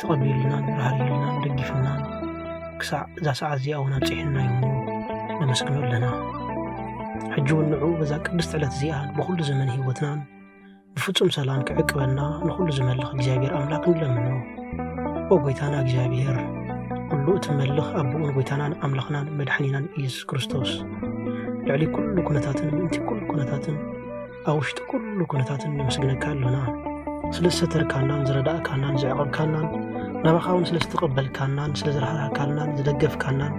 ተቐቢሉናን ራህሪሉናን ደጊፉናን ክሳዕ እዛ ሰዓት እዚኣ እውን ኣብፅሕና እዩ እሞ ነመስግኖ ኣለና ሕጂ እውን ንዑ በዛ ቅድስቲ ዕለት እዚኣ ብኩሉ ዘመን ህይወትናን ብፍጹም ሰላም ክዕቅበና ንኹሉ ዝመልኽ እግዚኣብሔር ኣምላክ ንለምኖ ኦ ጎይታና እግዚኣብሔር ኩሉ እትመልኽ ኣቦኡን ጎይታናን ኣምላኽናን መድሓኒናን ኢየሱስ ክርስቶስ ልዕሊ ኩሉ ኩነታትን ምእንቲ ኩሉ ኩነታትን ኣብ ውሽጢ ኩሉ ኩነታትን ነመስግነካ ኣሎና ስለ ዝሰተርካናን ዝረዳእካናን ዘዕቐብካናን ናባኻ እውን ስለ ዝተቐበልካናን ስለ ዝረሃርሃካልናን ዝደገፍካናን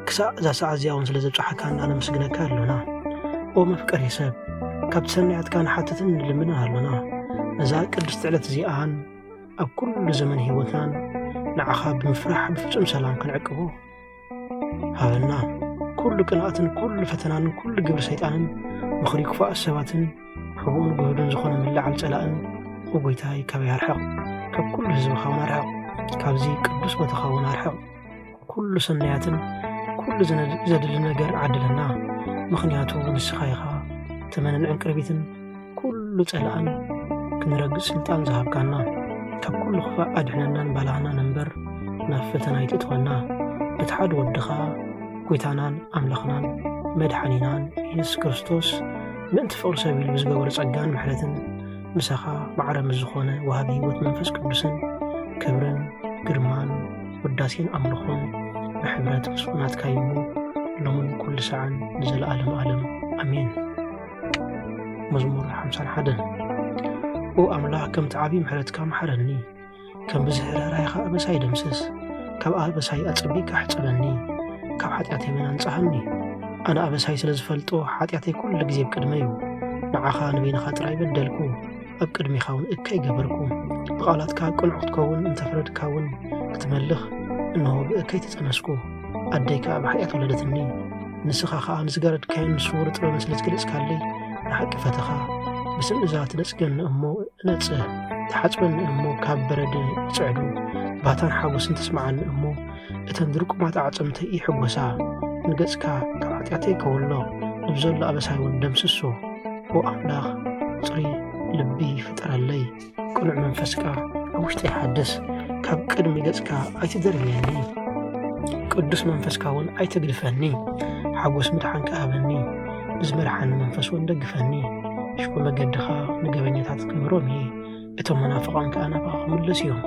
ክሳዕ እዛ ሰዓ እዚኣ እውን ስለ ዘብፅሓካና ነመስግነካ ኣሎና ኦ መፍቀሪ ሰብ ካብቲ ሰናያትካ ንሓትትን ንልምንን ኣሎና ነዛ ቅድስቲ ዕለት እዚኣን ኣብ ኩሉ ዘመን ህይወትናን ንዓኻ ብምፍራሕ ብፍጹም ሰላም ክንዕቅቦ ሃበና ኩሉ ቅንኣትን ኩሉ ፈተናን ኩሉ ግብሪ ሰይጣንን ምኽሪ ክፉኣት ሰባትን ሕቡእን ግህዱን ዝኾነ ምልዓል ጸላእን ጎይታይ ካበይ ኣርሕቕ ካብ ኩሉ ህዝብኻ እውን ኣርሕቕ ካብዚ ቅዱስ ቦታኻ እውን ኣርሕቕ ኩሉ ሰናያትን ኩሉ ዘድሊ ነገር ዓድለና ምኽንያቱ ንስኻ ኢኻ ተመንን ዕንቅርቢትን ኩሉ ጸላእን ክንረግጽ ስልጣን ዝሃብካና ካብ ኩሉ ክፋእ ኣድሕነናን ባላህናን እምበር ናብ ፈተና ኣይትእትወና በቲ ሓደ ወድኻ ጐይታናን ኣምላኽናን መድሓኒናን ኢየሱስ ክርስቶስ ምእንቲ ፍቕሪ ሰብ ኢሉ ብዝገበሮ ጸጋን ምሕረትን ምሳኻ ማዕረ ምስ ዝኾነ ወሃቢ ህይወት መንፈስ ቅዱስን ክብርን ግርማን ውዳሴን ኣምልኾን ብሕብረት ምስኩናትካ ይሞ ሎምን ኩሉ ሰዓን ንዘለኣለም ኣለም ኣሜን መዝሙር ሓምሳን ሓደን ኦ ኣምላኽ ከምቲ ዓብዪ ምሕረትካ መሓረኒ ከም ብዝሒ ርኅራይኻ ኣበሳይ ደምስስ ካብ ኣበሳይ ኣጸቢቕካ ሕጸበኒ ካብ ሓጢኣተይ እውን ኣንጽሃኒ ኣነ ኣበሳይ ስለ ዝፈልጦ ሓጢኣተይ ኩሉ ግዜ ኣብ ቅድመ እዩ ንዓኻ ንበይንኻ ጥራይ በደልኩ ኣብ ቅድሚኻ እውን እከ ይገበርኩ ብቓላትካ ቅኑዕ ክትከውን እንተፈረድካ እውን ክትመልኽ እንሆ ብእከይ ተጸነስኩ ኣደይ ከዓ ብሓጢኣት ወለደትኒ ንስኻ ከዓ ንዝጋረድካዮን ንስውር ጥበብን ስለ ዝገለጽካለይ ንሓቂ ፈተኻ ብስም እዛ ትነጽገኒ እሞ እነጽህ ትሓጽበኒ እሞ ካብ በረድ ይጽዕዱ ባታን ሓጎስን ተስማዓኒ እሞ እተን ድርቁማት ኣዕጽምተይ ይሕጎሳ ንገጽካ ካብ ሓጢኣተይ ከወሎ ንብዘሎ ኣበሳይ እውን ደምስሶ ኦ ኣምላኽ ፅሪ ልቢ ፍጠረለይ ቅኑዕ መንፈስካ ኣብ ውሽጠይ ሓደስ፣ ካብ ቅድሚ ገጽካ ኣይትደርብየኒ፣ ቅዱስ መንፈስካ እውን ኣይተግድፈኒ፣ ሓጎስ ምድሓንካ ሃበኒ፣ ብዝመርሓኒ መንፈስ እውን ደግፈኒ። ሽኮ መገድኻ ንገበኛታት ክምህሮም እየ፣ እቶም መናፍቓን ከዓ ናባኻ ክምለሱ እዮም።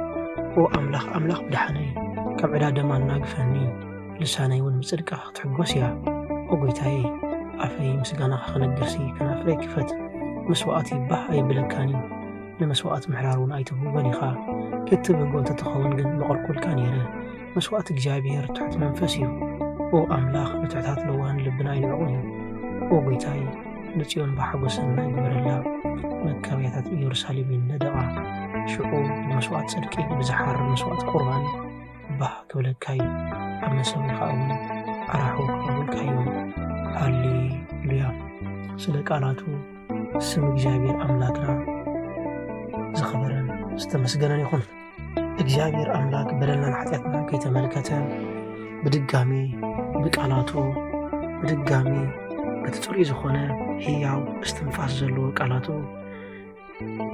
ኦ ኣምላኽ ኣምላኽ ብድሓነይ፣ ካብ ዕዳ ደማ ኣናግፈኒ። ልሳነይ እውን ብጽድቅኻ ክትሕጎስ እያ። ኦ ጐይታየ፣ ኣፈይ ምስጋናኻ ክነግርሲ፣ ከናፍረይ ክፈት። መስዋእቲ ባህ ኣይብለካን እዩ፣ ንመስዋእቲ ምሕራር እውን ኣይትብህጎን ኢኻ። እትብህጎ እንተ ትኸውን ግን መቐርቁልካ ነይረ። መስዋእቲ እግዚኣብሄር ትሑት መንፈስ እዩ። ኦ ኣምላኽ፣ ንትሑታት ለዋህን ልብና ኣይንዕቑን እዩ። ኦ ጐይታይ፣ ንጽዮን ብሓጐስ ሰናይ ግበረላ፣ መጋብያታት ኢየሩሳሌም ይነደቓ። ሽዑ ብመስዋእቲ ጽድቂ፣ ብዝሓርር መስዋእቲ ቍርባን፣ ባህ ክብለካ እዩ ኣብ መሰዊካ እውን ኣራሑ ክቀብልካ እዮም ሃሌሉያ ስለ ቃላቱ ስም እግዚኣብሔር ኣምላክና ዝኸበረን ዝተመስገነን ይኹን እግዚኣብሔር ኣምላክ በደልናን ሓጢኣትና ከይተመልከተ ብድጋሚ ብቃላቱ ብድጋሚ በቲ ፅሩይ ዝኾነ ህያው እስትንፋስ ዘለዎ ቃላቱ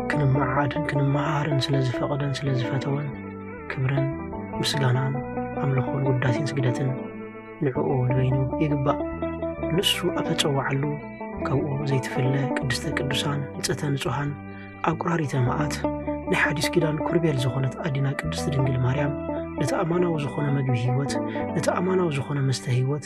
ክንመዓድን ክንመሃርን ስለ ዝፈቐደን ስለ ዝፈተወን ክብርን ምስጋናን ኣምልኾን ውዳሴን ስግደትን ንዕኡ ንበይኑ ይግባእ ንሱ ኣብ ተጸዋዓሉ ካብኡ ዘይትፍለ ቅድስተ ቅዱሳን ንጽሕተ ንጹሓን ኣቁራሪተ መዓት ናይ ሓዲስ ኪዳን ኩርቤል ዝኾነት ኣዲና ቅድስቲ ድንግል ማርያም ነቲ ኣማናዊ ዝኾነ መግቢ ህይወት ነቲ ኣማናዊ ዝኾነ መስተ ህይወት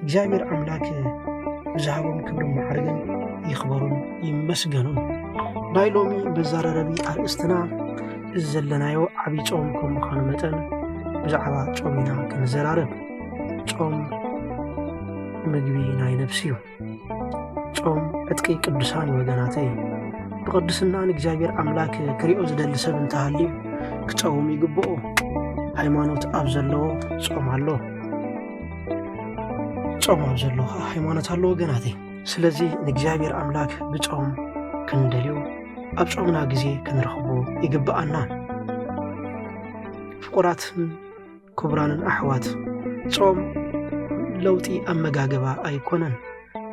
እግዚኣብሔር ኣምላክ ብዝሃቦም ክብሪ ማዕርግን ይኽበሩን ይመስገኑን። ናይ ሎሚ መዛረረቢ ኣርእስትና እዚ ዘለናዮ ዓብዪ ጾም ከም ምዃኑ መጠን ብዛዕባ ጾም ኢና ክንዘራረብ። ጾም ምግቢ ናይ ነፍሲ እዩ። ጾም ዕጥቂ ቅዱሳን ወገናተይ ብቅድስና ንእግዚኣብሔር ኣምላክ ክሪኦ ዝደሊ ሰብ እንተሃልዩ ክጸውም ይግብኦ። ሃይማኖት ኣብ ዘለዎ ጾም ኣሎ። ጾም ኣብ ዘሎ ከዓ ሃይማኖት ኣሎ ወገናት ስለዚ ንእግዚኣብሔር ኣምላክ ብጾም ክንደልዮ ኣብ ጾምና ግዜ ክንረኽቦ ይግብኣና ፍቁራትን ክቡራንን ኣሕዋት ጾም ለውጢ ኣመጋግባ ኣይኮነን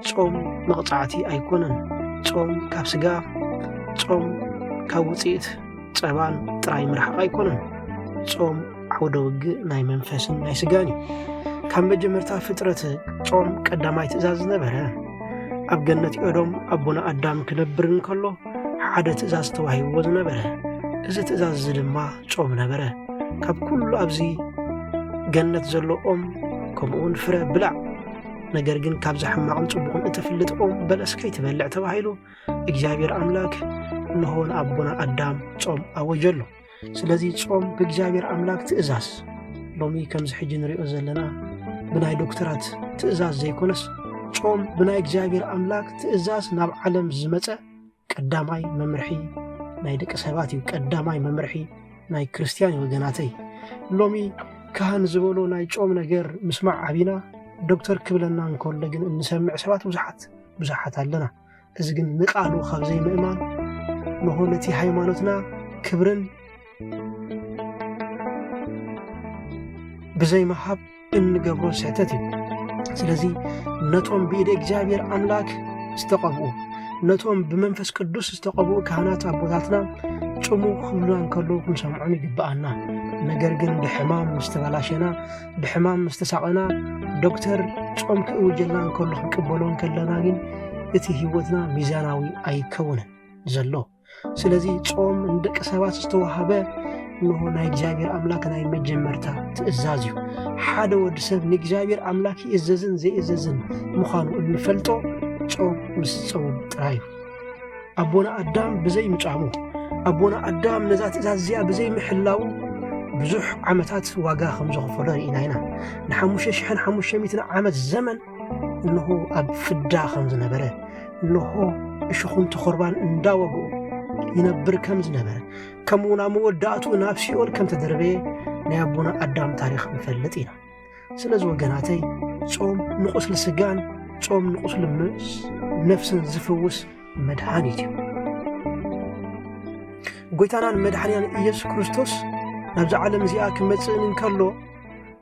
ጾም መቕጻዕቲ ኣይኮነን። ጾም ካብ ስጋ፣ ጾም ካብ ውጽኢት ጸባን ጥራይ ምርሓቕ ኣይኮነን። ጾም ዓውደ ውግእ ናይ መንፈስን ናይ ስጋን እዩ። ካብ መጀመርታ ፍጥረት ጾም ቀዳማይ ትእዛዝ ዝነበረ ኣብ ገነት ኦዶም ኣቦና ኣዳም ክነብር እንከሎ ሓደ ትእዛዝ ተዋሂብዎ ዝነበረ እዚ ትእዛዝ እዚ ድማ ጾም ነበረ። ካብ ኩሉ ኣብዚ ገነት ዘሎ ኦም ከምኡውን ፍረ ብላዕ ነገር ግን ካብዚ ሕማቕን ጽቡቕን እትፍልጥ ኦም በለስ ከይትበልዕ ተባሂሉ እግዚኣብሔር ኣምላክ እንሆ ንኣቦና ኣዳም ጾም ኣወጀሉ። ስለዚ ጾም ብእግዚኣብሔር ኣምላክ ትእዛዝ ሎሚ ከምዚ ሕጂ ንሪኦ ዘለና ብናይ ዶክተራት ትእዛዝ ዘይኮነስ ጾም ብናይ እግዚኣብሔር ኣምላክ ትእዛዝ ናብ ዓለም ዝመፀ ቀዳማይ መምርሒ ናይ ደቂ ሰባት እዩ ቀዳማይ መምርሒ ናይ ክርስትያን ወገናተይ ሎሚ ካህን ዝበሎ ናይ ጮም ነገር ምስማዕ ዓቢና ዶክተር ክብለና እንከሎ ግን እንሰምዕ ሰባት ብዙሓት ብዙሓት ኣለና እዚ ግን ንቃሉ ካብ ዘይምእማን ንሆ ነቲ ሃይማኖትና ክብርን ብዘይ ምሃብ እንገብሮ ስሕተት እዩ ስለዚ ነቶም ብኢደ እግዚኣብሔር ኣምላክ ዝተቐብኡ ነቶም ብመንፈስ ቅዱስ ዝተቐብኡ ካህናት ኣቦታትና ጭሙ ክብሉና እንከሎ ክንሰምዖም ይግብኣና ነገር ግን ብሕማም ምስ ተበላሸና ብሕማም ምስ ተሳቐና ዶክተር ጾም ክእውጀልና እንከሎ ክንቅበሎ እንከለና ግን እቲ ህይወትና ሚዛናዊ ኣይከውንን ዘሎ ስለዚ ጾም ንደቂ ሰባት ዝተዋሃበ እንሆ ናይ እግዚኣብሔር ኣምላክ ናይ መጀመርታ ትእዛዝ እዩ ሓደ ወዲ ሰብ ንእግዚኣብሔር ኣምላክ ይእዘዝን ዘይእዘዝን ምዃኑ እንፈልጦ ጾም ምስ ጸውም ጥራይ እዩ ኣቦና ኣዳም ብዘይ ምጻሙ ኣቦና ኣዳም ነዛ ትእዛዝ እዚኣ ብዘይ ምሕላው ብዙሕ ዓመታት ዋጋ ከም ዘኽፈሎ ርኢና ኢና ንሓሙሽተ ሽሕን ሓሙሽተ ሚትን ዓመት ዘመን እንሆ ኣብ ፍዳ ከም ዝነበረ እንሆ እሽኹን ተኾርባን እንዳወግኡ ይነብር ከም ዝነበረ ከምኡ ናብ መወዳእቱ ናብ ሲኦል ከም ተደርበየ ናይ ኣቦና ኣዳም ታሪኽ ንፈልጥ ኢና ስለዚ ወገናተይ ጾም ንቁስሊ ስጋን ጾም ንቁስሊ ነፍስን ዝፍውስ መድሃኒት እዩ ጎይታናን መድሓንያን ኢየሱስ ክርስቶስ ናብዚ ዓለም እዚኣ ክመጽእን እንከሎ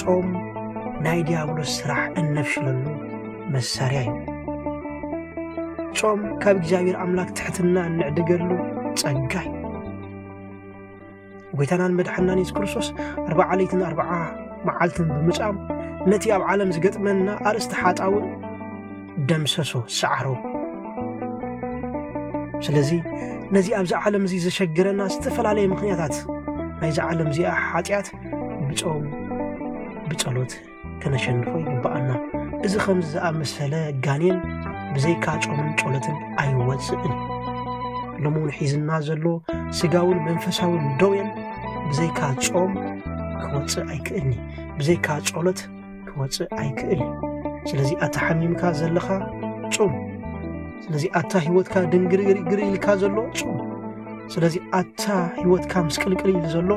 ጾም ናይ ዲያብሎስ ስራሕ እነፍሽለሉ መሳርያ እዩ። ጾም ካብ እግዚኣብሔር ኣምላክ ትሕትና እንዕድገሉ ጸጋ እዩ። ጎይታናን መድሓናን የሱስ ክርስቶስ ኣርባዓ ለይትን ኣርባዓ መዓልትን ብምጻም ነቲ ኣብ ዓለም ዝገጥመና ኣርእስቲ ሓጣውን ደምሰሶ ሰዓሮ። ስለዚ ነዚ ኣብዚ ዓለም እዚ ዘሸግረና ዝተፈላለየ ምክንያታት ናይዚ ዓለም እዚኣ ሓጢኣት ብጾም ብጸሎት ከነሸንፎ ይግብኣና እዚ ከምዚ ዝኣመሰለ ጋኔን ብዘይካ ጾምን ጸሎትን ኣይወፅእን ሎሚ እውን ሒዝና ዘሎ ስጋውን መንፈሳውን ደውየን ብዘይካ ጾም ክወፅእ ኣይክእልኒ ብዘይካ ጸሎት ክወጽእ ኣይክእል እዩ ስለዚ ኣታ ሓሚምካ ዘለኻ ጹም ስለዚ ኣታ ህይወትካ ድንግርግርግር ኢልካ ዘሎ ጹም ስለዚ ኣታ ህይወትካ ምስቅልቅል ኢሉ ዘሎ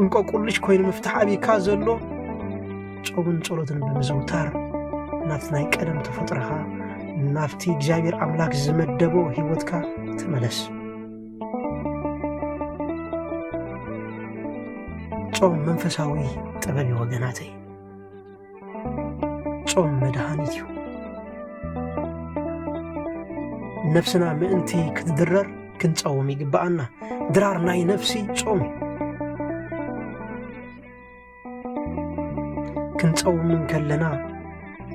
እንቆቁልሽ ኮይኑ ምፍታሕ ኣብካ ዘሎ ጾምን ጸሎትን ብምዝውታር ናብቲ ናይ ቀደም ተፈጥረኻ ናብቲ እግዚኣብሔር ኣምላክ ዝመደቦ ህይወትካ ተመለስ ጾም መንፈሳዊ ጥበብ እዩ ወገናተይ ጾም መድሃኒት እዩ ነፍስና ምእንቲ ክትድረር ክንጸውም ይግብኣና ድራር ናይ ነፍሲ ጾም እዩ ክንጸውም እንከለና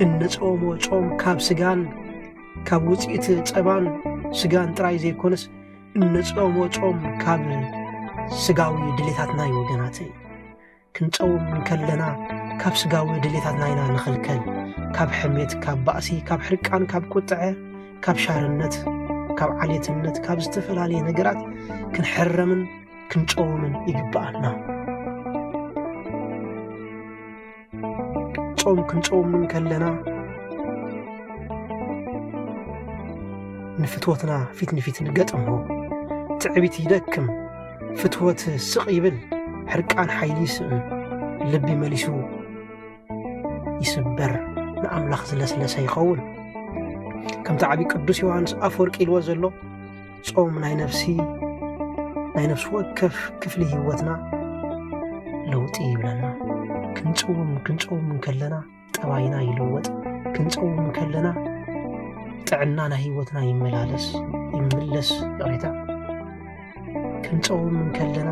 እንጸውሞ ጾም ካብ ስጋን ካብ ውፅኢት ጸባን ስጋን ጥራይ ዘይኮነስ እንጸውሞ ጾም ካብ ስጋዊ ድሌታትና እዩ ወገናተይ ክንጸውም እንከለና ካብ ስጋዊ ድሌታትና ኢና ንኽልከል ካብ ሕሜት ካብ ባእሲ ካብ ሕርቃን ካብ ቁጥዐ ካብ ሻርነት ካብ ዓሌትነት ካብ ዝተፈላለየ ነገራት ክንሕረምን ክንጾምን ይግብኣና። ጾም ክንጾም እንከለና ንፍትወትና ፊት ንፊት ንገጥሞ ትዕቢት ይደክም ፍትወት ስቕ ይብል ሕርቃን ሓይሊ ይስእን ልቢ መሊሱ ይስበር ንኣምላኽ ዝለስለሰ ይኸውን ከምቲ ዓብዪ ቅዱስ ዮሃንስ ኣፈወርቂ ኢልዎ ዘሎ ጾም ናይ ነፍሲ ናይ ነፍሲ ወከፍ ክፍሊ ህይወትና ለውጢ ይብለና ክንጽውም ክንጸውም እንከለና ጠባይና ይልወጥ ክንጸውም እንከለና ጥዕና ናይ ህይወትና ይመላለስ ይምለስ ይቕሬታ ክንጸውም እንከለና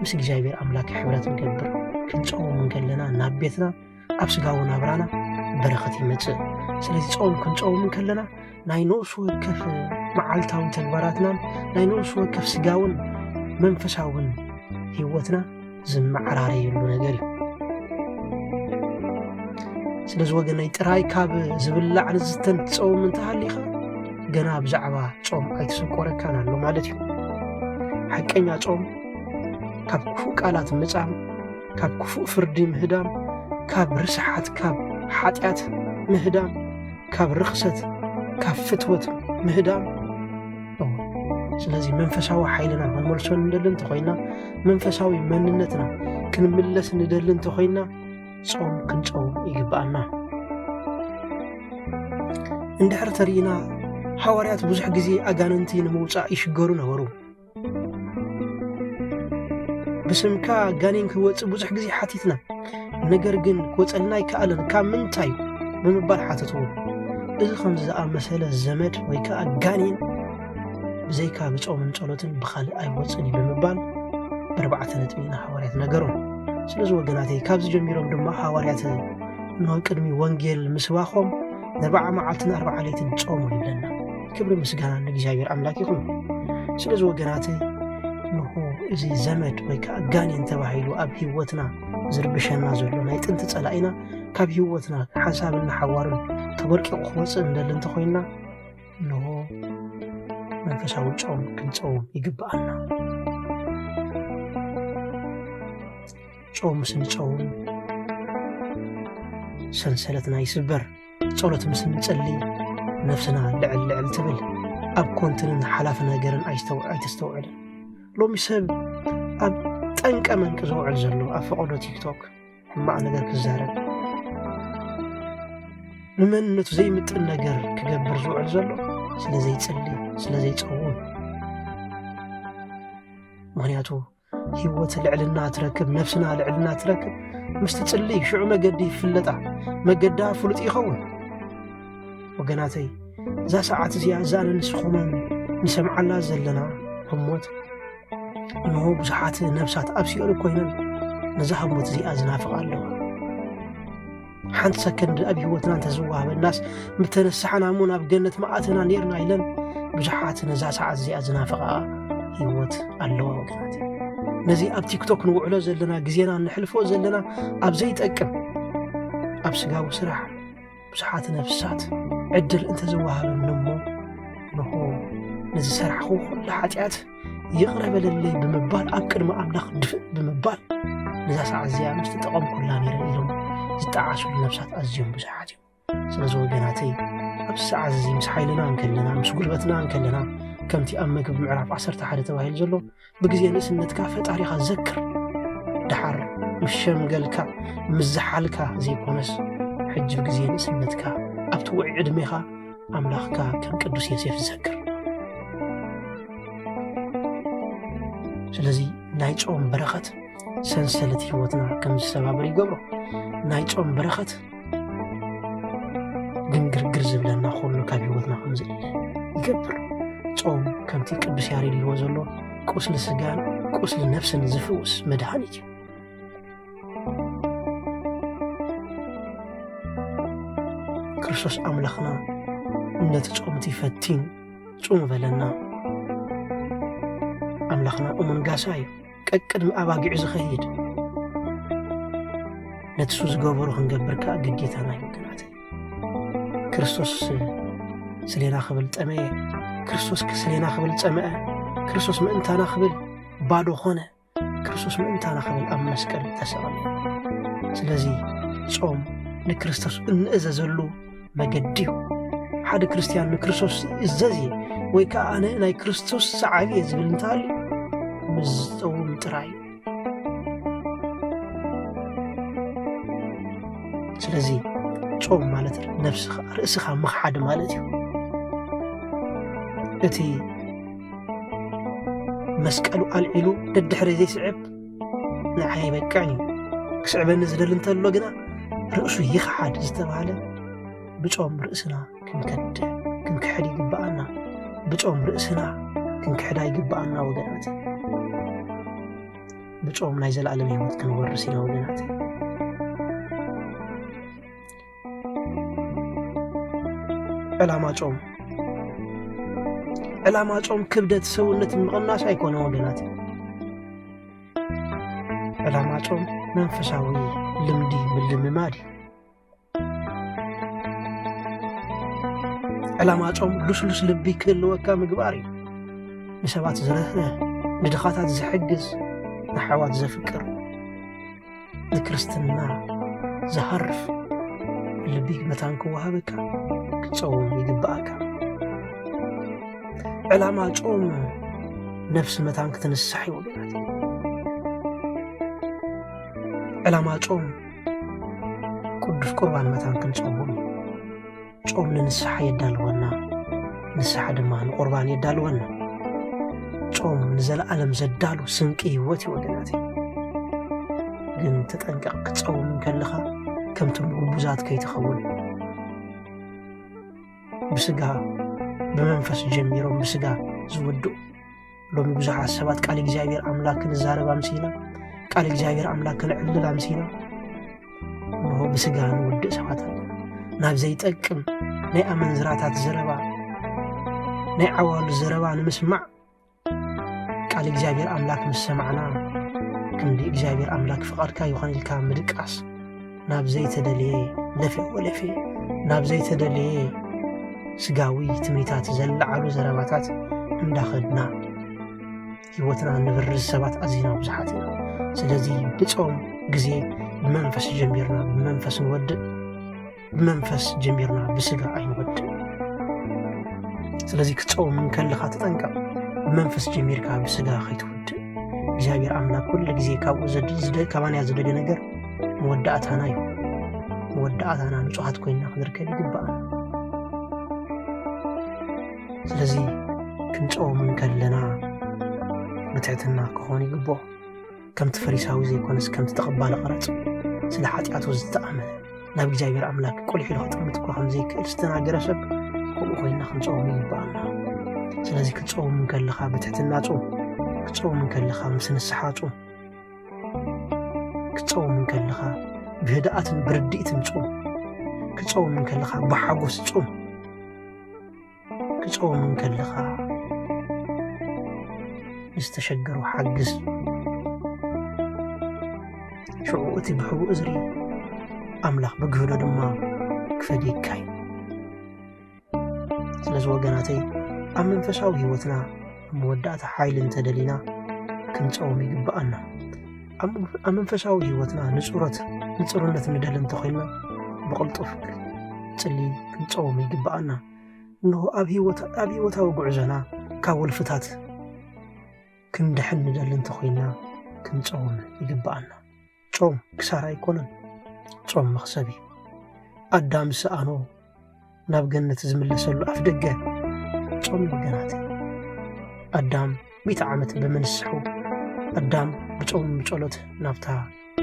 ምስ እግዚኣብሔር ኣምላክ ሕብረት ንገብር ክንጸውም እንከለና ናብ ቤትና ኣብ ስጋዊ ናብራና በረኸት ይመጽእ ስለዚ ጾም ክንጸውም ከለና ናይ ነብሲ ወከፍ መዓልታዊ ተግባራትናን ናይ ነብሲ ወከፍ ስጋውን መንፈሳውን ህይወትና ዝመዓራረየሉ ነገር እዩ ስለዚ ወገነይ ጥራይ ካብ ዝብላዕ ንዝስተን ትጸውም እንተሃሊኻ ገና ብዛዕባ ጾም ኣይተሰቆረካን ኣሎ ማለት እዩ ሓቀኛ ጾም ካብ ክፉእ ቃላት ምጻም ካብ ክፉእ ፍርዲ ምህዳም፣ ካብ ርስሓት፣ ካብ ሓጢኣት ምህዳም፣ ካብ ርኽሰት፣ ካብ ፍትወት ምህዳም እዎ። ስለዚ መንፈሳዊ ሓይልና ክንመልሶ ንደሊ እንተኾይና፣ መንፈሳዊ መንነትና ክንምለስ ንደሊ እንተኾይና ጾም ክንጸውም ይግብኣና። እንድሕር ተርኢና ሃዋርያት ብዙሕ ግዜ ኣጋንንቲ ንምውጻእ ይሽገሩ ነበሩ። ብስምካ ጋኔን ክወፅእ ብዙሕ ግዜ ሓቲትና ነገር ግን ክወፀልና ኣይከኣለን ካብ ምንታይ ብምባል ሓተትዎ እዚ ከምዚ ዝኣመሰለ ዘመድ ወይ ከዓ ጋኔን ብዘይካ ብፆምን ጸሎትን ብካልእ ኣይወፅን እዩ ብምባል ብርባዕተ ነጥቢ ንሃዋርያት ነገሮም ስለዚ ወገናተይ ካብዚ ጀሚሮም ድማ ሃዋርያት ንቅድሚ ወንጌል ምስባኾም ንርባዓ መዓልትን ኣርባዓ ለይትን ጾሙ ይብለና ክብሪ ምስጋና ንእግዚኣብሔር ኣምላክ ይኹን ስለዚ ወገናት ንኹ እዚ ዘመድ ወይ ከዓ ጋኔን ተባሂሉ ኣብ ህይወትና ዝርብሸና ዘሎ ናይ ጥንቲ ፀላኢና ካብ ህይወትና ሓሳብን ሓዋርን ተበርቂቑ ክወፅእ እንደሊ እንተኮይና ንሆ መንፈሳዊ ጨውም ክንፀውም ይግብኣና ጨውም ስንፀውም ሰንሰለትና ይስበር ጸሎት ምስ እንጸልይ ነፍስና ልዕል ልዕል ትብል ኣብ ኮንትንን ሓላፊ ነገርን ኣይተስተውዕልን ሎሚ ሰብ ኣብ ጠንቀ መንቂ ዝውዕል ዘሎ ኣብ ፈቐዶ ቲክቶክ ሕማቕ ነገር ክዛረብ ንመንነቱ ዘይምጥን ነገር ክገብር ዝውዕል ዘሎ ስለ ዘይጽሊ ስለ ዘይጸውም ምክንያቱ ህይወት ልዕልና ትረክብ ነፍስና ልዕልና ትረክብ ምስ ትጽሊ ሽዑ መገዲ ይፍለጣ መገዳ ፍሉጥ ይኸውን ወገናተይ እዛ ሰዓት እዚኣ እዛ ንንስኹምን ንሰምዓላ ዘለና ህሞት እንሆ ብዙሓት ነብሳት ኣብ ሲኦል ኮይነን ነዛ ህሞት እዚኣ ዝናፍቓ ኣለዋ ሓንቲ ሰከንድ ኣብ ህይወትና እንተዝወሃበናስ ምተነሳሕና እሞ ናብ ገነት መዓትና ኔርና ኢለን ብዙሓት ነዛ ሰዓት እዚኣ ዝናፈቓ ህይወት ኣለዋ ወገናት ነዚ ኣብ ቲክቶክ ንውዕሎ ዘለና ግዜና ንሕልፎ ዘለና ኣብ ዘይጠቅም ኣብ ስጋዊ ስራሕ ብዙሓት ነፍሳት ዕድል እንተዝወሃበኒ እሞ ንኹ ንዝሰራሕኹ ኩሉ ሓጢኣት ይቕረ በለለይ ብምባል ኣብ ቅድሚ ኣምላኽ ድፍእ ብምባል ነዛ ሰዓት እዚኣ ምስ ተጠቐምኩላ ነይረ ኢሎም ዝጠዓሱሉ ነብሳት ኣዝዮም ብዙሓት እዮም ስለዚ ወገናተይ ኣብዚ ሰዓት እዚ ምስ ሓይልና እንከለና ምስ ጉልበትና እንከለና ከምቲ ኣብ መግቢ ምዕራፍ 11 ተባሂሉ ዘሎ ብግዜ ንእስነትካ ፈጣሪኻ ዘክር ድሓር ምስ ሸምገልካ ምስ ዝሓልካ ዘይኮነስ ሕጂ ብግዜ ንእስነትካ ኣብቲ ውዒ ዕድሜኻ ኣምላኽካ ከም ቅዱስ ዮሴፍ ዝዘክር ስለዚ ናይ ጾም በረኸት ሰንሰለት ህይወትና ከም ዝሰባብር ይገብሮ ናይ ጾም በረኸት ግን ግርግር ዝብለና ኩሉ ካብ ህይወትና ከም ዝእለ ይገብር ጾም ከምቲ ቅዱስ ያሬድ ይዎ ዘሎ ቁስሊ ስጋን ቁስሊ ነፍስን ዝፍውስ መድሃኒት እዩ ክርስቶስ ኣምላኽና ነቲ ጾምቲ ፈቲን ጹሙ በለና ኣምላኽና እሙን ጋሳ እዩ ቀቅድሚ ኣባጊዑ ዝኸይድ ነቲ ሱ ዝገበሩ ክንገብር ከዓ ግዴታና እዩ ወገናት ክርስቶስ ስሌና ክብል ጠመየ ክርስቶስ ስሌና ክብል ጸመአ ክርስቶስ ምእንታና ክብል ባዶ ኾነ ክርስቶስ ምእንታና ክብል ኣብ መስቀል ተሰቐለ። ስለዚ ጾም ንክርስቶስ እንእዘዘሉ መገዲ እዩ። ሓደ ክርስትያን ንክርስቶስ እዘዝ እየ ወይ ከዓ ኣነ ናይ ክርስቶስ ሰዓቢ እየ ዝብል እንተሃልዩ ምስ ዝፀውም ጥራይ እዩ። ስለዚ ጾም ማለት ነብስኻ ርእስኻ ምኽሓድ ማለት እዩ እቲ መስቀሉ ኣልዒሉ ደድሕሪ ዘይስዕብ ንዓይ ኣይበቅዕን እዩ ክስዕበኒ ዝደሊ እንተሎ ግና ርእሱ ይኽሓድ ዝተባሃለ ብጾም ርእስና ክንከድ ክንክሕድ ይግብኣና ብጾም ርእስና ክንክሕዳ ይግብኣና ወገናት ብጾም ናይ ዘለኣለም ህይወት ክንወርስ ኢና ወገናት ዕላማ ጾም ዕላማ ጾም ክብደት ሰውነት ምቕናስ ኣይኮነ ወገናት ዕላማ ጾም መንፈሳዊ ልምዲ ምልምማድ እዩ ዕላማ ጾም ልስሉስ ልቢ ክህልወካ ምግባር እዩ ንሰባት ዝርህርህ ንድኻታት ዝሕግዝ ንሓዋት ዘፍቅር ንክርስትና ዝሃርፍ ልቢ መታን ክወሃበካ ክትጸውም ይግብኣካ ዕላማ ጾም ነፍሲ መታን ክትንሳሕ እዩ ወገናት ዕላማ ጾም ቅዱስ ቁርባን መታን ክንጸውም እዩ ጾም ንንስሓ የዳልወና፣ ንስሓ ድማ ንቁርባን የዳልወና። ጾም ንዘለዓለም ዘዳሉ ስንቂ ህይወት እዩ ወገናት። ግን ተጠንቀቕ፣ ክትጸውም ከለኻ ከምቶም ግቡዛት ከይትኸውን። ብስጋ ብመንፈስ ጀሚሮም ብስጋ ዝወድኡ ሎሚ ብዙሓት ሰባት ቃል እግዚኣብሔር ኣምላክ ክንዛረብ ኣምሲና ቃል እግዚኣብሔር ኣምላክ ክንዕልል ኣምሲና እንሆ ብስጋ ንውድእ ሰባት ኣለና ናብ ዘይጠቅም ናይ ኣመንዝራታት ዘረባ ናይ ዓዋሉ ዘረባ ንምስማዕ ቃል እግዚኣብሔር ኣምላክ ምስ ሰማዕና ክንዲ እግዚኣብሔር ኣምላክ ፍቓድካ ይኾን ኢልካ ምድቃስ ናብ ዘይተደልየ ለፌ ወለፌ ናብ ዘይተደልየ ስጋዊ ትምኒታት ዘለዓሉ ዘረባታት እንዳኸድና ህይወትና ንብርዝ ሰባት ኣዝና ብዙሓት ኢና ስለዚ ብፆም ግዜ ብመንፈስ ጀሚርና ብመንፈስ ንወድእ ብመንፈስ ጀሚርና ብስጋ ኣይንወድእ ስለዚ ክትፀውም እንከለኻ ተጠንቀቕ ብመንፈስ ጀሚርካ ብስጋ ከይትወድእ እግዚኣብሔር ኣምላክ ኩሉ ግዜ ካብኡ ካባንያ ዝደገ ነገር መወዳእታና እዩ። መወዳእታና ንጹሃት ኮይና ክንርከብ ይግባእና። ስለዚ ክንጾም እንከለና ብትሕትና ክኾን ይግቦ ከምቲ ፈሪሳዊ ዘይኮነስ ከምቲ ተቐባሊ ቐረጽ ስለ ሓጢኣቱ ዝተኣመነ ናብ እግዚኣብሔር ኣምላክ ቁልሕ ኢሉ ክጥምት እኳ ከም ዘይክእል ዝተናገረ ሰብ ከምኡ ኮይና ክንጾም ይግባኣና። ስለዚ ክትጾም እንከለኻ ብትሕትና ጾም፣ ክትጾም እንከለኻ ምስ ንስሓ ጾም። ክትጸውም እንከለኻ ብህድኣትን ብርድኢትን ጹም ክጸውም እንከለኻ ብሓጎስ ጹም ክጸውም እንከለኻ ንዝተሸገሩ ሓግዝ ሽዑ እቲ ብሕቡእ ዝርኢ ኣምላኽ ብግህዶ ድማ ክፈድየካ እዩ ስለዚ ወገናተይ ኣብ መንፈሳዊ ህይወትና ኣብ መወዳእታ ሓይሊ እንተደሊና ክንፀውም ይግብኣና ኣብ መንፈሳዊ ህይወትና ንፁረት ንፅሩነት ንደሊ እንተኮይንና ብቕልጡፍ ፅሊ ክንፀውም ይግብኣና እንሆ ኣብ ህይወታዊ ጉዕዞና ካብ ወልፍታት ክንድሕን ንደሊ እንተኮይንና ክንፀውም ይግብኣና ጾም ክሳራ ኣይኮነን፣ ጾም መኽሰብ እዩ። ኣዳም ዝሰኣኖ ናብ ገነት ዝምለሰሉ ኣፍ ደገ ጾም ነገራት እዩ። ኣዳም ሚእቲ ዓመት ብምንስሑ ኣዳም ብጾም ብጸሎት ናብታ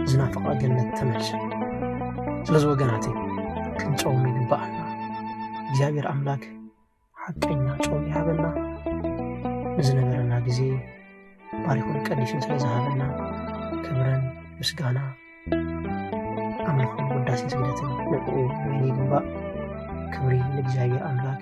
ዝናፍቓ ገነት ተመልሰ። ስለዚ ወገናት ክንጾም ይግባኣና። እግዚኣብሔር ኣምላክ ሓቀኛ ጾም ይሃበና ንዝነበረና ግዜ ባሪኹን ቀዲሱን ስለ ዝሃበና ክብረን ምስጋና ኣምልኾን ውዳሴ ስግደትን ንዕኡ ወይኒ ይግባእ ክብሪ ንእግዚኣብሔር ኣምላክ